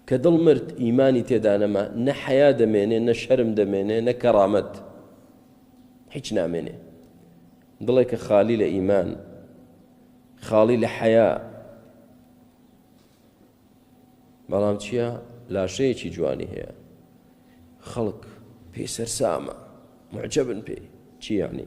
کە دڵ مرد ئیمانی تێدا نەما نە حەیا دەمێنێ نە شەرم دەمێنێ نە کەڕامەت هیچ نامێنێ دڵێک کە خالی لە ئیمان خاڵی لە حەیا بەڵام چییە لاشەیەکی جوانی هەیە خەڵک پێی سەرسامە معجبن پێی چی یعنی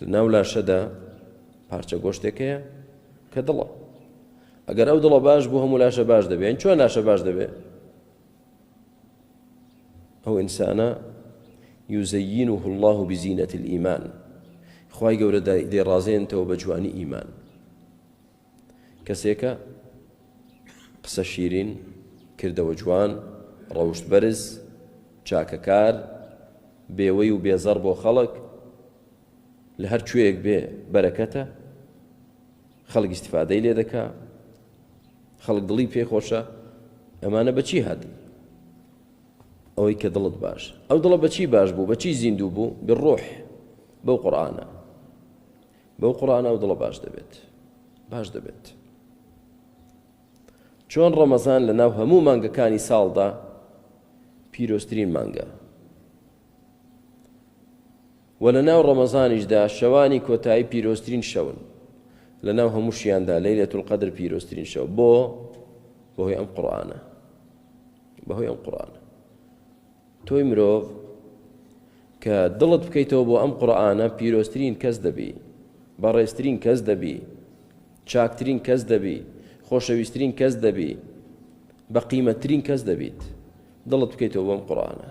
لە ناو لاشەدا پارچە گۆشتێک هەیە کە دڵە ئەگەر ئەو دڵە باش بوو هەموو لاشە باش دەبێت یان چۆن لاشە باش دەبێت ئەو ئینسانە یوزەین و الله و بزینەت الإیمان خی گەورە دێڕازێنتەوە بە جوانی ئیمان کەسێکە قسە شیرین، کردەوە جوان، ڕەوشت بەرز، چاکەکار، بێوەی و بێزەڕ بۆ خەڵک، لە هەر کوێیەک بێ بەرەکەتە، خەڵک ئیستیفادەی لێ دەکا، خەڵک دڵی پێ خۆشە، ئەمانە بە چی هات؟ ئەوەی کە دڵت باش ئەو دڵە بە چی باش بوو بە چی زیندوو بوو بڕۆح بەو قورآانە بەو قورئانە ئەو دڵە باش دەبێت باش دەبێت چۆن ڕەمەزان لە ناو هەموو مانگەکانی ساڵدا پیرۆسترین مانگە و لە ناو ڕەمەزانیشدا شەوانی کۆتایی پیرۆسترین شەون لە ناو هەمووشیاندا لەی لە تولقەدر پیرۆسترین شەو بۆ بەهۆی ئەم قڕانە بەهۆی ئەم قڕانە تۆی مرۆڤ کە دڵت بکەیتەوە بۆ ئەم قورئانە پیرۆزترین کەس دەبی بەڕێزترین کەس دەبی چاکترین کەس دەبی خۆشەویسترین کەس دەبی بە قیمەتترین کەس دەبیت دڵت بکەیتەوە بۆم قورئانە